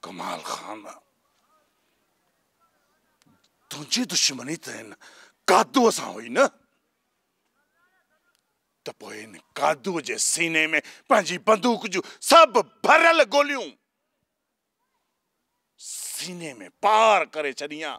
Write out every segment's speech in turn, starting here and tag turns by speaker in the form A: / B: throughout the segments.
A: ڪمال خان تنهنجي دشمني ته هن قادو سان هئي نه ته پوء هن قادو جي سيني ۾ پنهنجي بندوق جون سڀ ڀريل گوليون سيني ۾ پار ڪري ڇڏيان.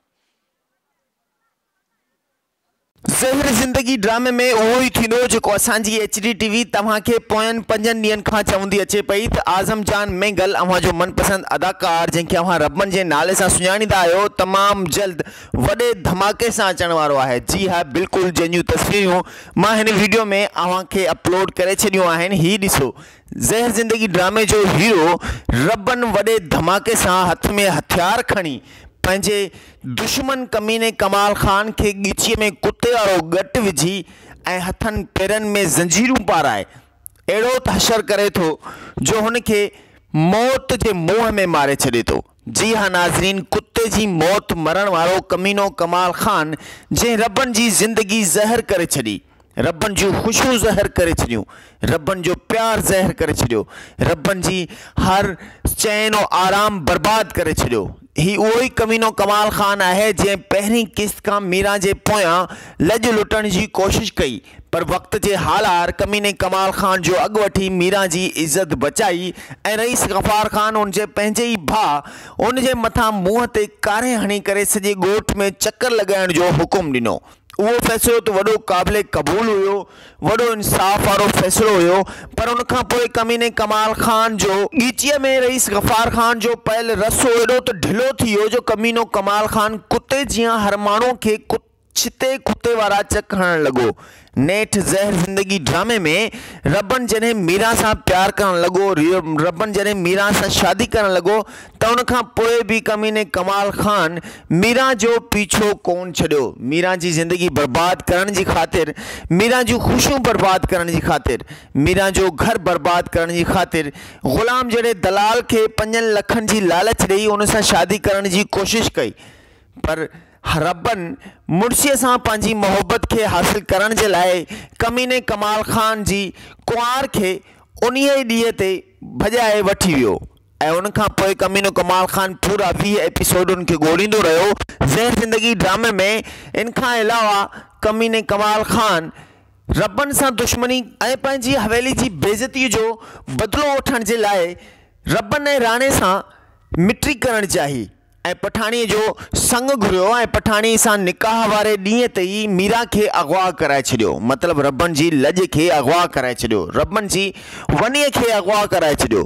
B: زهر زندگي ڊرامي ۾ اهو ئي ٿيندو جيڪو اسان جي ايڇ ڊي ٽي وي توهان کي پوين پنجن ڏينهن کان چوندي اچي پئي ته اعظم جان مينگل اوهان جو من پسند اداڪار جنهن کي اوهان ربن جي نالي سان سڃاڻيندا آهيو تمام جلد وڏي ڌماڪي سان اچڻ وارو آهي جي ها بلڪل جنهن جون تصويرون مان هن ويڊيو ۾ اوهان کي اپلوڊ ڪري ڇڏيون آهن هي ڏسو زهر زندگي ڊرامي جو هيرو ربن وڏي ڌماڪي سان هٿ ۾ هٿيار کڻي پنهنجي دشمن ڪميني ڪمال خان کي ڳچيء ۾ ڪتي وارو ڳٽ وجهي ۽ هٿن پيرن ۾ زنجيرون پارائي اهڙو تحشر ڪري ٿو جو هن کي موت جي منهن ۾ ماري ڇڏي ٿو. جي ها ناظرين ڪتي جي موت مرڻ وارو ڪمينو ڪمال خان جنهن ربن جي زندگي زهر ڪري ڇڏي ربن جون خوشيون زهر ڪري ڇڏيون ربن جو پيار زهر ڪري ڇڏيو ربن جي هر چين و آرام برباد ڪري ڇڏيو هي اهو ئي ڪمينو ڪمال خان آهي جنهن پهرين قسط کان ميران جي پويان لڄ لٽڻ جي ڪوشش ڪئي پر وقت جي هالهار ڪميني ڪمال خان جو اڳ وٺي ميران جي عزت بچائي ۽ رئيس غفار خان ان جي پنهنجي ئي ڀاء ان جي مٿان منهن تي ڪاري هڻي ڪري سڄي ڳوٺ ۾ چڪر لڳائڻ جو حڪم ڏنو. اهو فيصلو ته وڏو قابل قبول هيو، وڏو انصاف وارو فيصلو هيو پر ان کان پوء ڪميني ڪمال خان جو. ڳچيء ۾ رئيس غفار خان جو پيل رسو ايڏو ته ڍلو ٿي ويو جو ڪمينو ڪمال خان ڪتي جيان هر ماڻهو کي ڪتي. ڇتي ڪتي وارا چڪ هڻڻ لڳو. نيٺ زهر زندگي ڊرامي ۾ ربڻ جڏهن ميران سان پيار ڪرڻ لڳو، ربڻ جڏهن ميران سان شادي ڪرڻ لڳو ته ان کان پوء به ڪميني ڪمال خان ميران جو پيڇو ڪون ڇڏيو. ميران جي زندگي برباد ڪرڻ جي خاطر، ميران جون خوشيون برباد ڪرڻ جي خاطر، ميران جو گهر برباد ڪرڻ جي خاطر غلام جهڙي دلال کي پنجن لکن جي لالچ ڏئي ان سان شادي ڪرڻ جي ڪوشش ڪئي پر حربن مڙسيء سان پنهنجي محبت کي حاصل ڪرڻ جي لاء ڪميني ڪمال خان جي ڪنوار کي انهيء ئي ڏينهن تي ڀڄائي وٺي ويو ۽ ان کان پوء ڪمينو ڪمال خان پورا ويهه ايپيسوڊ ان کي ڳوليندو رهيو. زهر زندگي ڊرامي ۾ ان کان علاوه ڪميني ڪمال خان حربن سان دشمني، ۽ پنهنجي حويلي جي بيعزتيء جو بدلو وٺڻ جي لاء حربن ۽ راڻي سان مٽي ڪرڻ چاهي، ۽ پٺاڻيء جو سڱ گهريو ۽ پٺاڻيء سان نڪاح واري ڏينهن تي ئي ميران کي اغوا ڪرائي ڇڏيو. مطلب ربن جي لڄ کي اغوا ڪرائي ڇڏيو. ربن جي ونيء کي اغوا ڪرائي ڇڏيو.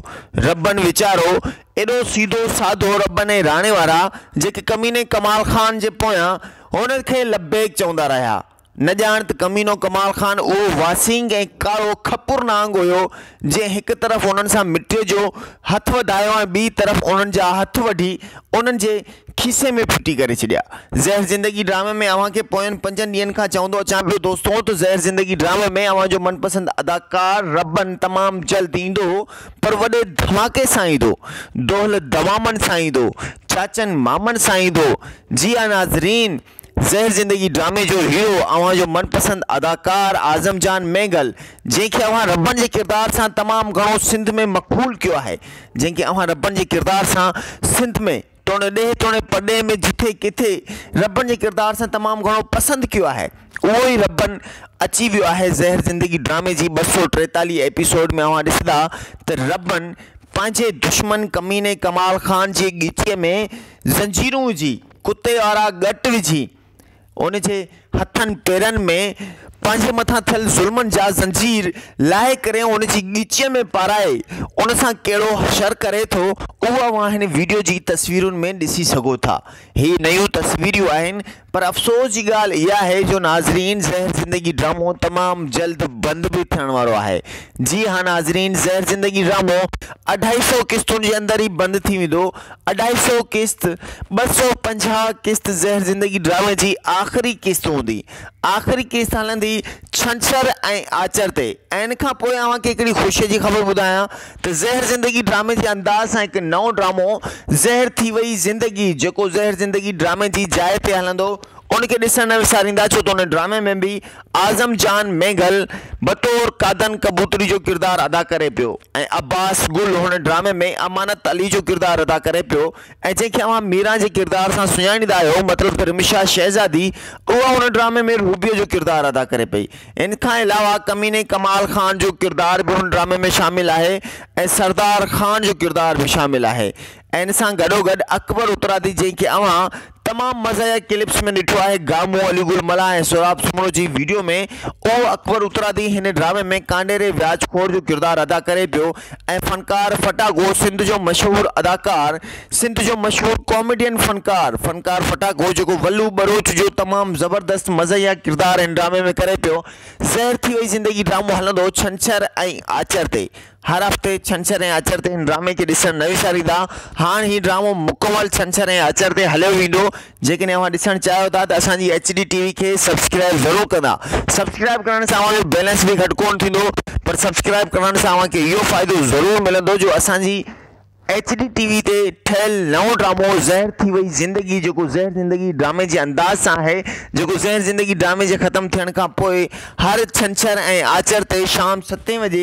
B: ربن ويچارو ايڏو سيڌو سادو ربن ۽ راڻي وارا جيڪي ڪميني ڪمال خان جي پويان هن کي لبيڪ چوندا رهيا. نه ڄاڻ ته ڪمينو ڪمال خان اهو واسينگ ۽ ڪارو کپر نانگ هيو، جنهن هڪ طرف انهن سان مٽيء جو هٿ وڌايو ۽ ٻيء طرف انهن جا هٿ وڍي انهن جي کيسي ۾ ڦٽي ڪري ڇڏيا. زهر زندگي ڊرامي ۾ اوهان کي پوين پنجن ڏينهن کان چوندو اچان پيو دوستو ته زهر زندگي ڊرامي ۾ اوهان جو من پسند اداڪار ربن تمام جلد ايندو پر وڏي ڌماڪي سان ايندو دهل دمامن سان ايندو چاچن مامن سان ايندو جي ها ناظرين زهر زندگي ڊرامي جو هيرو اوهان جو من پسند اداڪار اعظم جان مينگل جنهن کي اوهان ربڻ جي ڪردار سان تمام گهڻو سنڌ ۾ مقبول ڪيو آهي جنهن کي اوهان ربڻ جي ڪردار سان سنڌ ۾ توڻي ڏيهه توڻي پرڏيهه ۾ جٿي ڪٿي ربڻ جي ڪردار سان تمام گهڻو پسند ڪيو آهي اهو ئي ربڻ اچي ويو آهي زهر زندگي ڊرامي جي ٻه سؤ ٽيتاليهه ايپيسوڊ ۾ اوهان ڏسندا ته ربڻ پنهنجي دشمن ڪميني ڪمال خان جي ڳچيء ۾ زنجيرون وجهي ڪتي وارا ڳٽ وجهي ان جي هٿن پيرن ۾ پنهنجي مٿان ٿيل ظلمن جا زنجير لاهي ڪري ان جي ڳچيء ۾ پارائي ان سان ڪهڙو شر ڪري ٿو اهو اوهان هن وڊيو جي تصويرن ۾ ڏسي سگهو ٿا هي نيون تصويريون آهن پر افسوس جي ڳالهه اها آهي جو ناظرين زهر زندگي ڊرامو تمام جلد بند به ٿيڻ وارو آهي جي ها ناظرين زهر زندگي ڊرامو اڍائي سو قسطن جي اندر ئي بند ٿي ويندو اڍائي سئو قسط، ٻه سئو پنجاهه قسط زهر زندگي ڊرامي جي آخري قسط هوندي. آخري قسط هلندي ڇنڇر ۽ آچر تي ۽ ان کان پوء اوهان کي هڪڙي خوشي جي خبر ٻڌايان ته زهر زندگي ڊرامي جي انداز سان هڪ نئون ڊرامو زهر ٿي وئي زندگي جيڪو زهر زندگي ڊرامي جي جاء تي هلندو ان کي ڏسڻ نه وساريندا ڇو ته ان ڊرامي ۾ به اعظم جان ميگهل بطور قادن ڪبوتري جو ڪردار ادا ڪري پيو ۽ عباس گل هن ڊرامي ۾ امانت علي جو ڪردار ادا ڪري پيو ۽ جنهن کي اوهان ميران جي ڪردار سان سڃاڻيندا آهيو مطلب ته رمشا شهزادي اها هن ڊرامي ۾ روبيء جو ڪردار ادا ڪري پئي ان کان علاوه ڪميني ڪمال خان جو ڪردار به هن ڊرامي ۾ شامل آهي ۽ سردار خان جو ڪردار به شامل آهي ان سان گڏوگڏ اڪبر اترادي جنهن کي اوهان تمام مزاحيه ڪلپس ۾ ڏٺو آهي گامو، علي گل ملاح ۽ سهراب سومرو جي ويڊيو ۾ اهو اڪبر اترادي هن ڊرامي ۾ ڪانڊيري وياج خور جو ڪردار ادا ڪري پيو ۽ فنڪار ڦٽاگو سنڌ جو مشهور اداڪار سنڌ جو مشهور ڪاميڊين فنڪار فنڪار ڦٽاگو جيڪو ولو ٻروچ جو تمام زبردست مزاحيه ڪردار هن ڊرامي ۾ ڪري پيو زهر ٿي وئي زندگي ڊرامو هلندو ڇنڇر ۽ آچر تي هر هفتي ڇنڇر ۽ آچر تي هن ڊرامي کي ڏسڻ نه وساريندا. هاڻ هي ڊرامو مڪمل ڇنڇر ۽ آچر تي هليو ويندو. جيڪڏهن اوهان ڏسڻ چاهيو ٿا ته اسان جي ايڇ ڊي ٽي وي کي سبسڪرائيب ضرور ڪندا. سبسڪرائيب ڪرڻ سان اوهان جو بيلنس به گهٽ ڪونه ٿيندو پر سبسڪرائيب ڪرڻ سان اوهان کي اهو فائدو ضرور ملندو جو اسان جي ايڇ ڊي ٽي وي تي ٺهيل نئون ڊرامو زهر ٿي وئي زندگي جيڪو زهر زندگي ڊرامي جي انداز سان آهي جيڪو زهر زندگي ڊرامي جي ختم ٿيڻ کان پوء هر ڇنڇر ۽ آچر تي شام ستين وڄي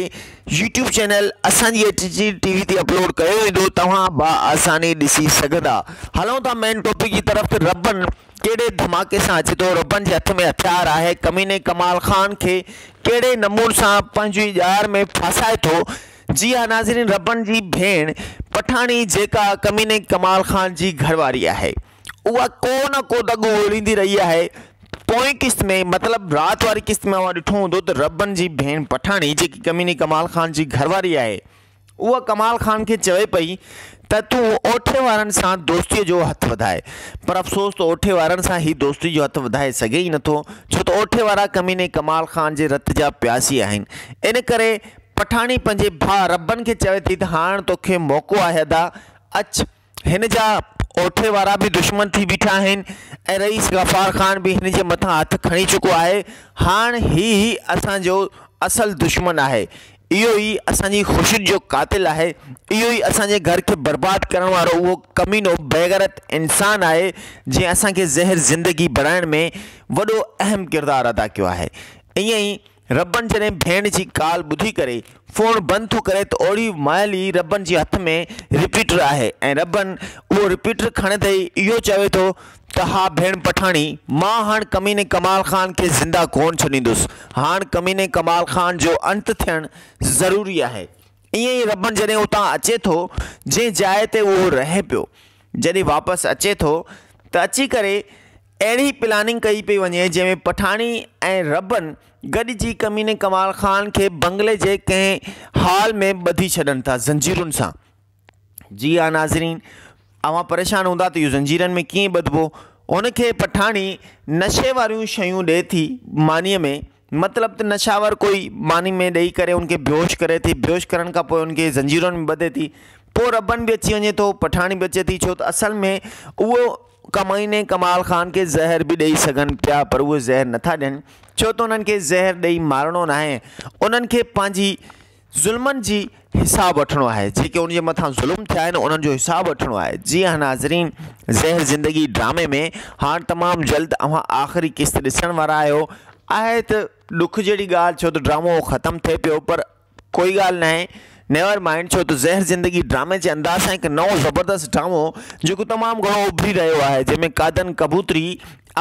B: يوٽيوب چينل اسان جي ايڇ ڊي ٽي وي تي اپلوڊ ڪيو ويندو توهان با آساني ڏسي سگهندا هلون ٿا مين ٽاپڪ جي طرف ته ربن ڪهڙي ڌماڪي سان اچي ٿو ربن جي هٿ ۾ هٿيار آهي ڪميني ڪمال خان کي ڪهڙي نمون سان پنهنجي ڄار ۾ ڦاسائي ٿو جي ها ناظرين ربڻ جي ڀيڻ پٺاڻي جيڪا ڪميني ڪمال خان جي گهرواري آهي اها ڪو نه ڪو دڳو ڳوليندي رهي آهي پوئين قسط ۾ مطلب رات واري قسط ۾ اوهان ڏٺو هوندو ته ربڻ جي ڀيڻ پٺاڻي جيڪي ڪميني ڪمال خان جي گهرواري آهي اها ڪمال خان کي چوي پئي ته تون اوٺي وارن سان دوستي جو هٿ وڌائي پر افسوس ته اوٺي وارن سان هي دوستي جو هٿ وڌائي سگهي ئي نٿو ڇو ته اوٺي وارا ڪميني ڪمال خان جي رت جا پياسي آهن ان ڪري پٺاڻي پنهنجي ڀاء ربن کي چوي ٿي ته هاڻ توکي موقعو آهي ادا، اچ. هن جا اوٺي وارا به دشمن ٿي بيٺا آهن ۽ رئيس غفار خان به هن جي مٿان هٿ کڻي چڪو آهي. هاڻ هي ئي اسان جو اصل دشمن آهي. اهو ئي اسان جي خوشين جو قاتل آهي. اهو ئي اسان جي گهر کي برباد ڪرڻ وارو اهو ڪمينو بيغيرت انسان آهي جنهن اسان کي زهر زندگي بڻائڻ ۾ وڏو اهم ڪردار ادا ڪيو آهي. ائين ئي ربڻ جڏهن ڀيڻ جي ڪال ٻڌي ڪري فون بند ٿو ڪري ته اوڙي مهل ئي ربڻ جي هٿ ۾ رپيٽر آهي ۽ ربڻ اهو رپيٽر کڻندي ئي اهو چوي ٿو ته ها ڀيڻ پٺاڻي مان هاڻ ڪميني ڪمال خان کي زنده ڪونه ڇڏيندس هاڻ ڪميني ڪمال خان جو انت ٿيڻ ضروري آهي ائين ئي ربڻ جڏهن اتان اچي ٿو جنهن جاء تي اهو رهي پيو جڏهن واپس اچي ٿو ته اچي ڪري اهڙي پلاننگ ڪئي پئي وڃي جنهن ۾ پٺاڻي ۽ ربن گڏجي ڪميني ڪمال خان کي بنگلي جي ڪنهن هال ۾ ٻڌي ڇڏن ٿا زنجيرن سان. جي ها ناظرين اوهان پريشان هوندا ته اهو زنجيرن ۾ ڪيئن ٻڌبو. هن کي پٺاڻي نشي واريون شيون ڏئي ٿي مانيء ۾ مطلب ته نشاور ڪوئي ماني ۾ ڏئي ڪري ان کي بيهوش ڪري ٿي، بيهوش ڪرڻ کان پوء ان کي زنجيرن ۾ ٻڌي ٿي، پوء ربن به اچي وڃي ٿو، پٺاڻي به اچي ٿي، ڇو ته اصل ۾ اهو ڪمائين ۽ ڪمال خان کي زهر به ڏئي سگهن پيا پر اهي زهر نٿا ڏين، ڇو ته انهن کي زهر ڏئي مارڻو ناهي، انهن کي پنهنجي. ظلمن جي حساب وٺڻو آهي جيڪي ان جي مٿان ظلم ٿيا آهن انهن جو حساب وٺڻو آهي جي ها ناظرين زهر زندگي ڊرامي ۾ هاڻ تمام جلد اوهان آخري قسط ڏسڻ وارا آهيو آهي ته ڏک جهڙي ڳالهه ڇو ته ڊرامو ختم ٿئي پيو پر ڪوئي ڳالهه نه آهي نيور مائنڊ ڇو ته زهر زندگي ڊرامي جي انداز سان هڪ نئون زبردست ڊرامو جيڪو تمام گهڻو اڀري رهيو آهي جنهن ۾ قادن ڪبوتري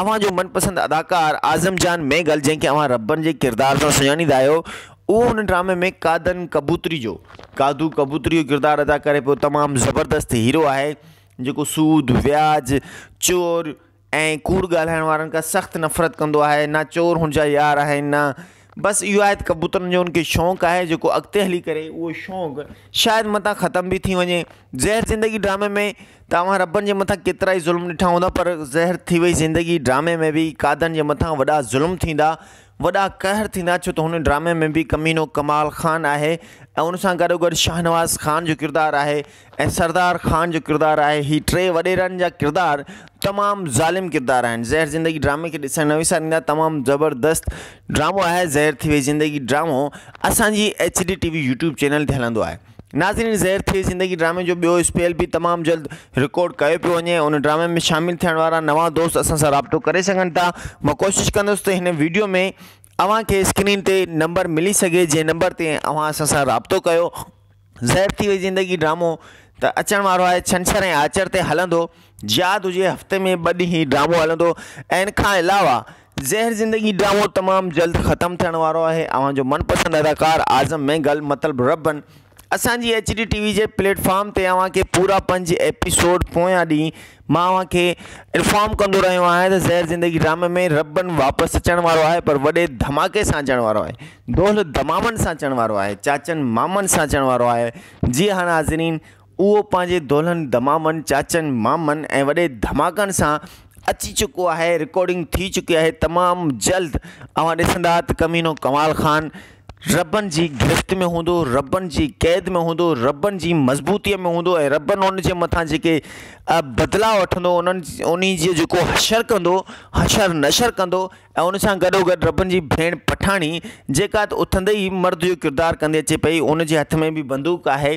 B: اوهان جو من پسند اداڪار اعظم جان ميگل جنهن کي اوهان ربن جي ڪردار سان سڃاڻيندا آهيو اهو هن ڊرامي ۾ قادن ڪبوتري جو قادو ڪبوتري جو ڪردار ادا ڪري پيو تمام زبردست هيرو آهي جيڪو سود وياج چور ۽ ڪوڙ ڳالهائڻ وارن کان سخت نفرت ڪندو آهي نه چور هن جا يار آهن نه بس اهو آهي ڪبوترن جو انکي شوق آهي جيڪو اڳتي هلي ڪري اهو شوق شايد متان ختم به ٿي وڃي زهر زندگي ڊرامي ۾ توهان ربن جي متان ڪيترا ئي ظلم ڏٺا هوندا پر زهر ٿي وئي زندگي ڊرامي ۾ به قادن جي متان وڏا ظلم ٿيندا وڏا قهر ٿيندا ڇو ته هن ڊرامي ۾ به ڪمينو ڪمال خان آهي ۽ ان سان گڏو گڏ شاهنواز خان جو ڪردار آهي ۽ سردار خان جو ڪردار آهي هي ٽي وڏيرن جا ڪردار تمام ظالم ڪردار آهن زهر زندگي ڊرامي کي ڏسڻ نه وساريندا تمام زبردست ڊرامو آهي زهر ٿي وئي زندگي ڊرامو اسانجي H D T V YouTube channel تي هلندو آهي ناظرين زهر ٿئي زندگي ڊرامي جو ٻيو اسپيل به تمام جلد رڪارڊ ڪيو پيو وڃي ان ڊرامي ۾ شامل ٿيڻ وارا نوان دوست اسان سان رابطو ڪري سگهن ٿا مان ڪوشش ڪندس ته هن ويڊيو ۾ اوهان کي اسڪرين تي نمبر ملي سگهي جنهن نمبر تي اوهان اسان سان رابطو ڪيو زهر ٿي وئي زندگي ڊرامو ته اچڻ وارو آهي ڇنڇر ۽ آچر تي هلندو ياد هجي هفتي ۾ ٻه ڏينهن هي ڊرامو هلندو ۽ ان کان علاوه زهر زندگي ڊرامو تمام جلد ختم ٿيڻ وارو آهي اوهان جو من پسند اداڪار اعظم مينگل مطلب ربن اسان جي ايچ ڊي ٽي وي جي پليٽ فارم تي اوهان کي پورا پنج ايپيسوڊ پويان ڏينهن مان اوهان کي انفارم ڪندو رهيو آهيان ته زهر زندگي ڊرامي ۾ ربن واپس اچڻ وارو آهي پر وڏي ڌماڪي سان اچڻ وارو آهي دهل دمامن سان اچڻ وارو آهي چاچن مامن سان اچڻ وارو آهي جي هاڻ حاضرين اهو پنهنجي دولهن دمامن، چاچن، مامن ۽ وڏي ڌماڪن سان اچي چڪو آهي رڪارڊنگ ٿي چڪي آهي تمام جلد اوهان ڏسندا ته ڪمينو ڪمال خان ربن جي گرفت ۾ هوندو ربن جي قيد ۾ هوندو ربن جي مضبوطي ۾ هوندو ۽ ربن ان جي مٿان جيڪي بدلا وٺندو انهن انهي جي جيڪو حشر ڪندو حشر نشر ڪندو ۽ ان سان گڏو گڏ ربن جي ڀيڻ پٺاڻي جيڪا اٿندي ئي مرد جو ڪردار ڪندي اچي پئي ان جي هٿ ۾ به بندوق آهي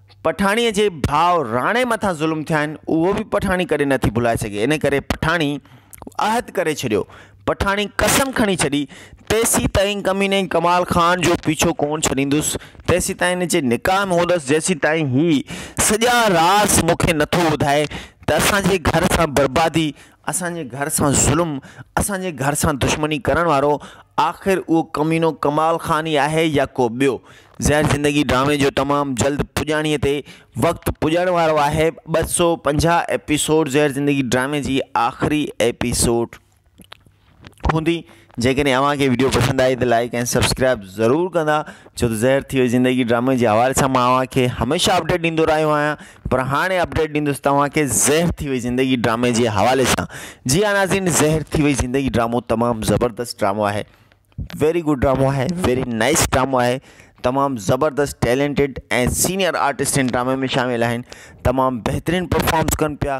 B: پٺاڻيء جي ڀاء راڻي مٿان ظلم ٿيا آهن، اهو به پٺاڻي ڪڏهن نه ٿي ڀلائي سگهي. ان ڪري پٺاڻي عهد ڪري ڇڏيو. پٺاڻي قسم کڻي ڇڏي، تيسيتائين ڪميني ڪمال خان جو پيڇو ڪونه ڇڏيندس، تيسيتائين هن جي نڪاح ۾ هوندس، جيسيتائين هي سڄا راز مون کي نٿو ٻڌائي ته اسان جي گهر سان بربادي اسان جي گهر سان ظلم، اسان جي گهر سان دشمني ڪرڻ وارو آخر اهو ڪمينو ڪمال خان ئي آهي يا ڪو ٻيو؟ زهر زندگي ڊرامي جو تمام جلد پڄاڻيء تي وقت پڄڻ وارو آهي، ٻه سؤ پنجاهه ايپيسوڊ زهر زندگي ڊرامي جي آخري ايپيسوڊ. هوندي جيڪڏهن اوهان کي ويڊيو پسند آئي ته لائڪ ۽ سبسڪرائب ضرور ڪندا ڇو ته ظاهر ٿي وئي زندگي ڊرامي جي حوالي سان ماڻهو اوهان کي هميشه اپڊيٽ ڏيندو رهيو آهيان پر هاڻي اپڊيٽ ڏيندس توهان کي ظاهر ٿي وئي زندگي ڊرامي جي حوالي سان جي ها ناظرين ظاهر ٿي وئي زندگي ڊرامو تمام زبردست ڊرامو آهي ويري گڊ ڊرامو آهي ويري نائس ڊرامو آهي تمام زبردست ٽيلنٽيڊ ۽ سينئر آرٽسٽ ان ڊرامي ۾ شامل آهن تمام بهترين پرفارمنس ڪن پيا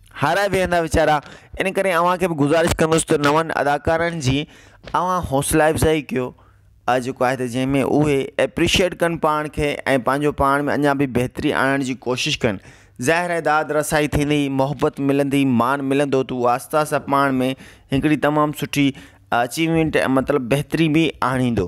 B: هارائي ويهندا ويچارا ان ڪري اوهان کي به گذارش ڪندس ته نون اداڪارن جي اوهان حوصلا افزائي ڪيو آج جيڪو آهي ته جنهن ۾ اهي ايپريشيئيٽ ڪن پاڻ کي ۽ پنهنجو پاڻ ۾ اڃا به بهتري آڻڻ جي ڪوشش ڪن ظاهر آهي داد رسائي ٿيندي محبت ملندي مان ملندو تو آهسته آهسته پاڻ ۾ هڪڙي تمام سٺي اچيومينٽ مطلب بهتري به آڻيندو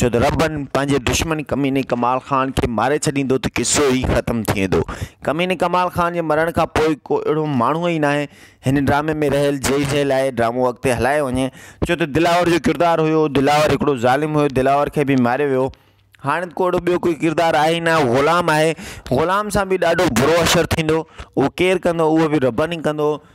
B: ڇو ته ربن پنهنجي دشمن ڪميني ڪمال خان کي ماري ڇڏيندو ته قصو ئي ختم ٿي ويندو. ڪميني ڪمال خان جي مرڻ کان پوء ڪو اهڙو ماڻهو ئي ناهي هن ڊرامي ۾ رهيل جنهن جي لاء ڊرامو اڳتي هلايو وڃي ڇو ته دلاور جو ڪردار هيو دلاور هڪڙو ظالم هيو دلاور کي به ماريو ويو هاڻ ڪو اهڙو ٻيو ڪوئي ڪردار آهي ئي نه غلام آهي غلام سان به ڏاڍو برو حشر ٿيندو اهو ڪير ڪندو اهو به ربن ئي ڪندو.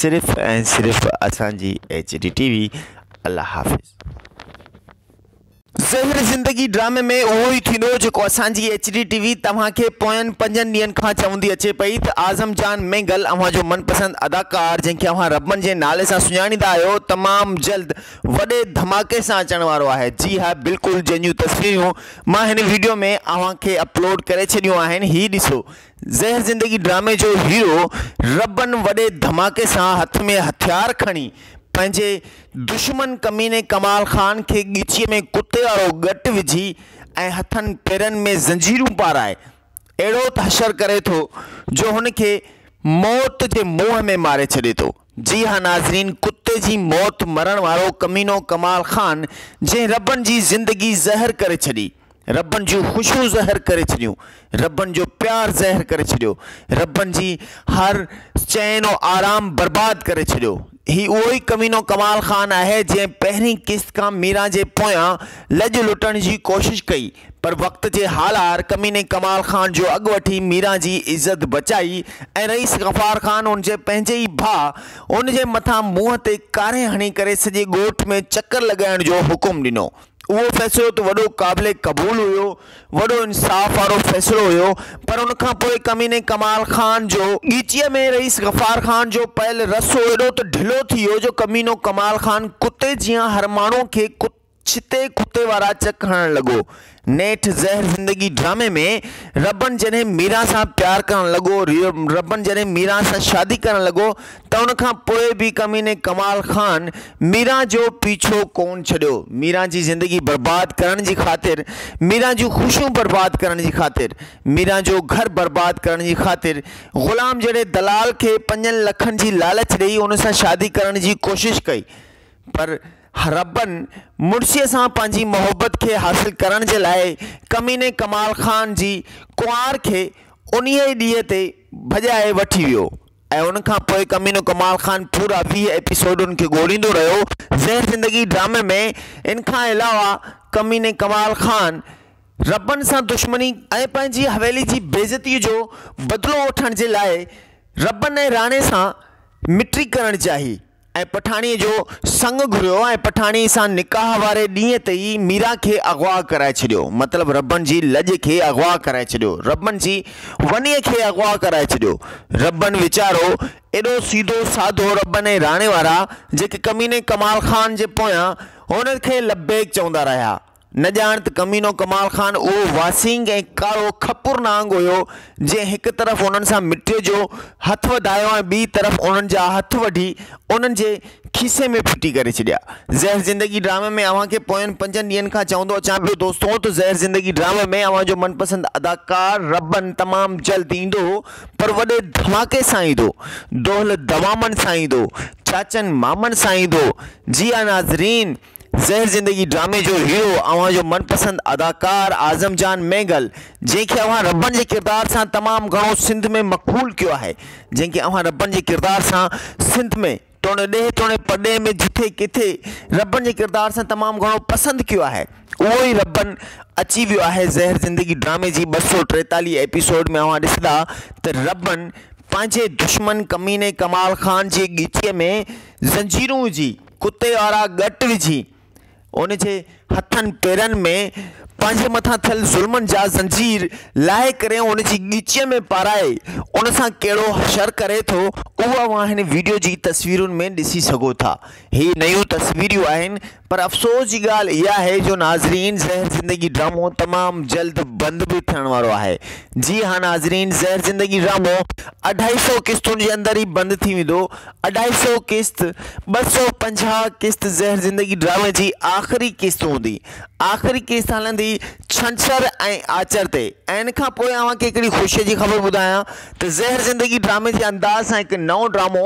B: صرف ۽ صرف اسان جي ايچ ڊي ٽي وي الله حافظ. زهر زندگي ڊرامي ۾ اهو ئي ٿيندو جيڪو اسان جي ايچ ڊي ٽي وي توهان کي پوين پنجن ڏينهن کان چوندي اچي پئي ته اعظم جان مينگل اوهان جو من پسند اداڪار جنهن کي اوهان ربن جي نالي سان سڃاڻيندا آهيو تمام جلد وڏي ڌماڪي سان اچڻ وارو آهي جي ها بلڪل جنهن جون تصويريون مان هن ويڊيو ۾ اوهان کي اپلوڊ ڪري ڇڏيون آهن هي ڏسو زهر زندگي ڊرامي جو هيرو ربن وڏي ڌماڪي سان هٿ ۾ هٿيار کڻي پنهنجي دشمن ڪميني ڪمال خان کي ڳچيء ۾ ڪتي وارو ڳٽ وجهي ۽ هٿن پيرن ۾ زنجيرون پارائي اهڙو تحشر ڪري ٿو جو هن کي موت جي منهن ۾ ماري ڇڏي ٿو. جي ها ناظرين ڪتي جي موت مرڻ وارو ڪمينو ڪمال خان جنهن ربن جي زندگي زهر ڪري ڇڏي ربن جون خوشيون زهر ڪري ڇڏيون ربن جو پيار زهر ڪري ڇڏيو ربن جي هر چين و آرام برباد ڪري ڇڏيو هي اهو ئي ڪمينو ڪمال خان آهي جنهن پهرين قسط کان ميران جي پويان لڄ لٽڻ جي ڪوشش ڪئي پر وقت جي هالار ڪميني ڪمال خان جو اڳ وٺي ميران جي عزت بچائي ۽ رئيس غفار خان ان جي پنهنجي ئي ڀاء ان جي مٿان منهن تي ڪاري هڻي ڪري سڄي ڳوٺ ۾ چڪر لڳائڻ جو حڪم ڏنو اهو فيصلو ته وڏو قابل قبول هيو وڏو انصاف وارو فيصلو هيو پر ان کان پوء ڪميني ڪمال خان جو ڳچيء ۾ رئيس غفار خان جو پيل رسو ايڏو ته ڍلو ٿي ويو جو ڪمينو ڪمال خان ڪتي جيان هر ماڻهو کي ڪتي ڇتي ڪتي وارا چڪ هڻڻ لڳو. نيٺ زهر زندگي ڊرامي ۾ ربڻ جڏهن ميران سان پيار ڪرڻ لڳو، ربڻ جڏهن ميران سان شادي ڪرڻ لڳو ته ان کان پوء به ڪميني ڪمال خان ميران جو پيڇو ڪون ڇڏيو. ميران جي زندگي برباد ڪرڻ جي خاطر، ميران جون خوشيون برباد ڪرڻ جي خاطر، ميران جو گهر برباد ڪرڻ جي خاطر غلام جهڙي دلال کي پنجن لکن جي لالچ ڏئي ان سان شادي ڪرڻ جي ڪوشش ڪئي. پر حربن مڙسيء سان پنهنجي محبت کي حاصل ڪرڻ جي لاء ڪميني ڪمال خان جي ڪنوار کي انهيء ئي ڏينهن تي ڀڄائي وٺي ويو ۽ ان کان پوء ڪمينو ڪمال خان پورا ويهه ايپيسوڊ ان کي ڳوليندو رهيو. زهر زندگي ڊرامي ۾ ان کان علاوه ڪميني ڪمال خان حربن سان دشمني، ۽ پنهنجي حويلي جي بيعزتيء جو بدلو وٺڻ جي لاء حربن ۽ راڻي سان مٽي ڪرڻ چاهي، ۽ پٺاڻيء جو سڱ گهريو ۽ پٺاڻيء سان نڪاح واري ڏينهن تي ئي ميران کي اغوا ڪرائي ڇڏيو. مطلب ربن جي لڄ کي اغوا ڪرائي ڇڏيو. ربن جي ونيء کي اغوا ڪرائي ڇڏيو. ربن ويچارو ايڏو سيڌو سادو ربن ۽ راڻي وارا جيڪي ڪميني ڪمال خان جي پويان هن کي لبيڪ چوندا رهيا نه ڄاڻ ته ڪمينو ڪمال خان اهو واسينگ ۽ ڪارو کپر نانگ هيو، جنهن هڪ طرف انهن سان مٽيء جو هٿ وڌايو ۽ ٻيء طرف انهن جا هٿ وڍي انهن جي کيسي ۾ ڦٽي ڪري ڇڏيا. زهر زندگي ڊرامي ۾ اوهان کي پوين پنجن ڏينهن کان چوندو اچان پيو دوستو ته زهر زندگي ڊرامي ۾ اوهان جو من پسند اداڪار ربن تمام جلد ايندو پر وڏي ڌماڪي سان ايندو دهل دمامن سان ايندو چاچن مامن سان ايندو جي ها ناظرين زهر زندگي ڊرامي جو هيرو اوهان جو من پسند اداڪار اعظم جان مينگل جنهن کي اوهان ربڻ جي ڪردار سان تمام گهڻو سنڌ ۾ مقبول ڪيو آهي جنهن کي اوهان ربڻ جي ڪردار سان سنڌ ۾ توڻي ڏيهه توڻي پرڏيهه ۾ جٿي ڪٿي ربڻ جي ڪردار سان تمام گهڻو پسند ڪيو آهي اهو ئي ربڻ اچي ويو آهي زهر زندگي ڊرامي جي ٻه سؤ ٽيتاليهه ايپيسوڊ ۾ اوهان ڏسندا ته ربڻ پنهنجي دشمن ڪميني ڪمال خان جي ڳچيء ۾ زنجيرون وجهي ڪتي وارا ڳٽ وجهي، ان جي هٿن پيرن ۾ پنهنجي مٿان ٿيل ظلمن جا زنجير لاهي ڪري ان جي ڳچيء ۾ پارائي ان سان ڪهڙو حشر ڪري ٿو، اهو اوهان هن وڊيو جي تصويرن ۾ ڏسي سگهو ٿا. هي نيون تصويريون آهن پر افسوس جي ڳالهه اها آهي جو ناظرين زهر زندگي ڊرامو تمام جلد بند به ٿيڻ وارو آهي. جي ها ناظرين زهر زندگي ڊرامو اڍائي سؤ قسطن جي اندر ئي بند ٿي ويندو اڍائي سئو قسط، ٻه سئو پنجاهه قسط زهر زندگي ڊرامي جي آخري قسط هوندي. آخري قسط هلندي ڇنڇر ۽ آچر تي ۽ ان کان پوء اوهان کي هڪڙي خوشي جي خبر ٻڌايان ته زهر زندگي ڊرامي جي انداز سان هڪ نئون ڊرامو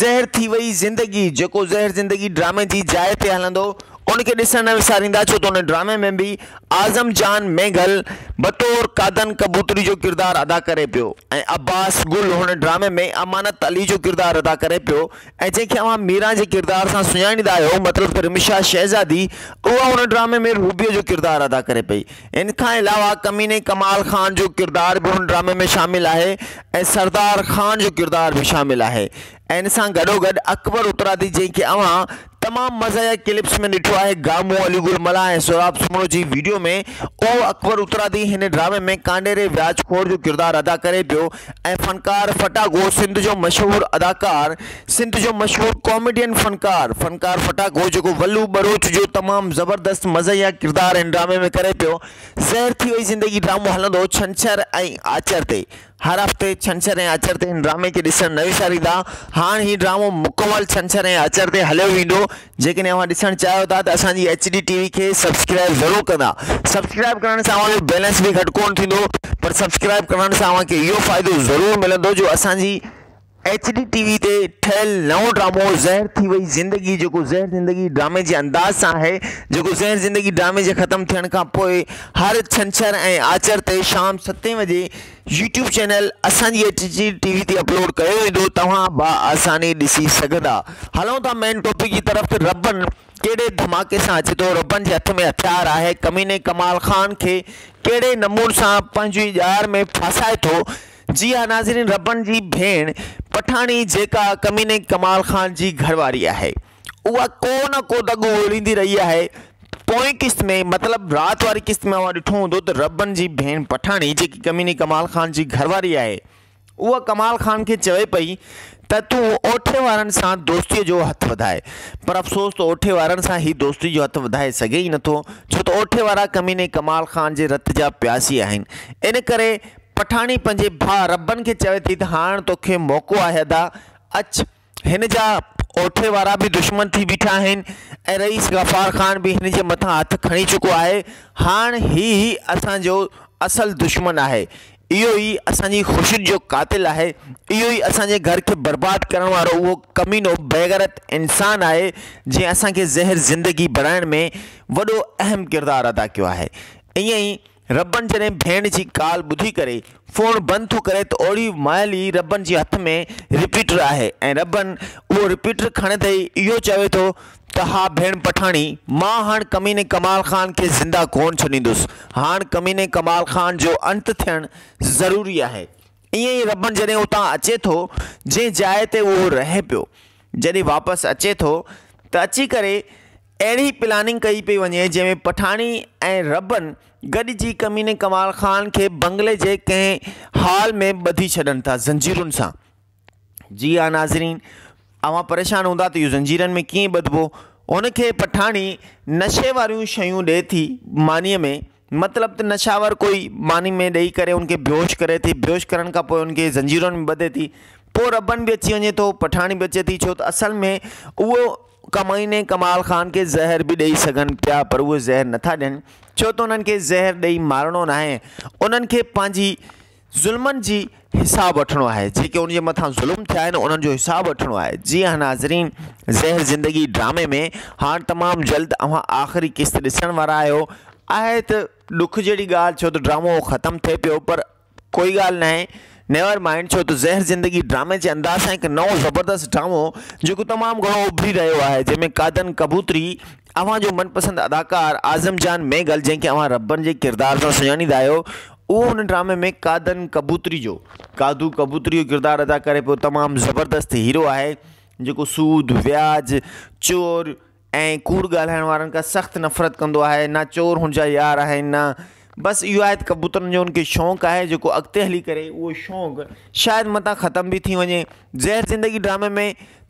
B: زهر ٿي وئي زندگي جيڪو زهر زندگي ڊرامي جي جاء تي هلندو ان کي ڏسڻ نه وساريندا ڇو ته ان ڊرامي ۾ به اعظم جان مينگهل بطور قادن ڪبوتري جو ڪردار ادا ڪري پيو ۽ عباس گل هن ڊرامي ۾ امانت علي جو ڪردار ادا ڪري پيو ۽ جنهن کي اوهان ميران جي ڪردار سان سڃاڻيندا آهيو مطلب ته رمشا شهزادي اها هن ڊرامي ۾ روبيء جو ڪردار ادا ڪري پئي ان کان علاوه ڪميني ڪمال خان جو ڪردار به هن ڊرامي ۾ شامل آهي ۽ سردار خان جو ڪردار به شامل آهي ان سان گڏوگڏ اڪبر اترادي جنهن کي اوهان تمام مزاحيه ڪلپس ۾ ڏٺو آهي گامون علي گل ملاح ۽ سهراب سومرو جي ويڊيو ۾ اهو اڪبر اترادي هن ڊرامي ۾ ڪانڊيري وياج خور جو ڪردار ادا ڪري پيو ۽ فنڪار ڦٽاڪو سنڌ جو مشهور اداڪار سنڌ جو مشهور ڪاميڊين فنڪار فنڪار ڦٽاڪو جيڪو ولو ٻروچ جو تمام زبردست مزاحيه ڪردار هن ڊرامي ۾ ڪري پيو زهر ٿي وئي زندگي ڊرامو هلندو ڇنڇر ۽ آچر تي هر هفتي ڇنڇر ۽ آچر تي هن ڊرامي کي ڏسڻ نه وساريندا. هاڻ هي ڊرامو مڪمل ڇنڇر ۽ آچر تي هليو ويندو. جيڪڏهن اوهان ڏسڻ چاهيو ٿا ته اسان جي ايڇ ڊي ٽي وي کي سبسڪرائب ضرور ڪندا. سبسڪرائب ڪرڻ سان اوهان جو بيلنس به گهٽ ڪونه ٿيندو پر سبسڪرائب ڪرڻ سان اوهان کي اهو فائدو ضرور ملندو جو اسان جي ايڇ ڊي ٽي وي تي ٺهيل نئون ڊرامو زهر ٿي وئي زندگي جيڪو زهر زندگي ڊرامي جي انداز سان آهي جيڪو زهر زندگي ڊرامي جي ختم ٿيڻ کان پوء هر ڇنڇر ۽ آچر تي شام ستين وڄي يوٽيوب چينل اسان جي ايڇ ڊي ٽي وي تي اپلوڊ ڪيو ويندو توهان با آساني ڏسي سگهندا هلون ٿا مين ٽاپڪ جي طرف ته ربن ڪهڙي ڌماڪي سان اچي ٿو ربن جي هٿ ۾ هٿيار آهي ڪميني ڪمال خان کي ڪهڙي نمون سان پنهنجي ڄار ۾ ڦاسائي ٿو جي ها ناظرين ربڻ جي ڀيڻ پٺاڻي جيڪا ڪميني ڪمال خان جي گهر واري آهي اها ڪو نه ڪو دڳو اڙيندي رهي آهي پوئين قسط ۾ مطلب رات واري قسط ۾ اوهان ڏٺو هوندو ته ربڻ جي ڀيڻ پٺاڻي جيڪي ڪميني ڪمال خان جي گهر واري آهي اها ڪمال خان کي چوي پئي ته تون اوٺي وارن سان دوستي جو هٿ وڌائي پر افسوس ته اوٺي وارن سان هي دوستي جو هٿ وڌائي سگهي ئي نٿو ڇو ته اوٺي وارا ڪميني ڪمال خان جي رت جا پياسي آهن ان ڪري پٺاڻي پنهنجي ڀاء ربن کي چوي ٿي ته هاڻ توکي موقعو آهي ادا، اچ. هن جا اوٺي وارا به دشمن ٿي بيٺا آهن ۽ رئيس غفار خان به هن جي مٿان هٿ کڻي چڪو آهي. هاڻ هي ئي اسان جو اصل دشمن آهي. اهو ئي اسان جي خوشين جو قاتل آهي. اهو ئي اسان جي گهر کي برباد ڪرڻ وارو اهو ڪمينو بيغيرت انسان آهي جنهن اسان کي زهر زندگي بڻائڻ ۾ وڏو اهم ڪردار ادا ڪيو آهي. ائين ئي ربڻ جڏهن ڀيڻ جي ڪال ٻڌي ڪري فون بند ٿو ڪري ته اوڙي مهل ئي ربڻ جي هٿ ۾ رپيٽر آهي ۽ ربڻ اهو رپيٽر کڻندي ئي اهو چوي ٿو ته ها ڀيڻ پٺاڻي مان هاڻ ڪميني ڪمال خان کي زنده ڪونه ڇڏيندس هاڻ ڪميني ڪمال خان جو انت ٿيڻ ضروري آهي ائين ئي ربڻ جڏهن اتان اچي ٿو جنهن جاء تي اهو رهي پيو جڏهن واپس اچي ٿو ته اچي ڪري اهڙي پلاننگ ڪئي پئي وڃي جنهن ۾ پٺاڻي ۽ ربن گڏجي ڪميني ڪمال خان کي بنگلي جي ڪنهن هال ۾ ٻڌي ڇڏن ٿا زنجيرن سان. جي ها ناظرين اوهان پريشان هوندا ته اهو زنجيرن ۾ ڪيئن ٻڌبو. هن کي پٺاڻي نشي واريون شيون ڏئي ٿي مانيء ۾. مطلب ته نشاور ڪوئي ماني ۾ ڏئي ڪري ان کي بيهوش ڪري ٿي، بيهوش ڪرڻ کان پوء ان کي زنجيرن ۾ ٻڌي ٿي، پوء ربن به اچي وڃي ٿو، پٺاڻي به اچي ٿي، ڇو ته اصل ۾ اهو ڪمائين ۽ ڪمال خان کي زهر به ڏئي سگهن پيا پر اهي زهر نٿا ڏين، ڇو ته انهن کي زهر ڏئي مارڻو ناهي، انهن کي پنهنجي ظلمن جي حساب وٺڻو آهي جيڪي ان جي مٿان ظلم ٿيا آهن انهن جو حساب وٺڻو آهي جي ها ناظرين زهر زندگي ڊرامي ۾ هاڻ تمام جلد اوهان آخري قسط ڏسڻ وارا آهيو آهي ته ڏک جهڙي ڳالهه ڇو ته ڊرامو ختم ٿئي پيو پر ڪوئي ڳالهه نه آهي نيور مائنڊ ڇو ته زهر زندگي ڊرامي جي انداز سان هڪ نئون زبردست ڊرامو جيڪو تمام گهڻو اڀري رهيو آهي جنهن ۾ قادن ڪبوتري اوهان جو من پسند اداڪار اعظم جان ميگل جنهن کي اوهان ربن جي ڪردار سان سڃاڻيندا آهيو اهو هن ڊرامي ۾ قادن ڪبوتري جو قادو ڪبوتري جو ڪردار ادا ڪري پيو تمام زبردست هيرو آهي جيڪو سود وياج چور ۽ ڪوڙ ڳالهائڻ وارن کان سخت نفرت ڪندو آهي نه چور هن جا يار آهن نه بس اهو آهي ته ڪبوترن جو ان کي شوق آهي جيڪو اڳتي هلي ڪري اهو شوق شايد متان ختم به ٿي وڃي زهر زندگي ڊرامي ۾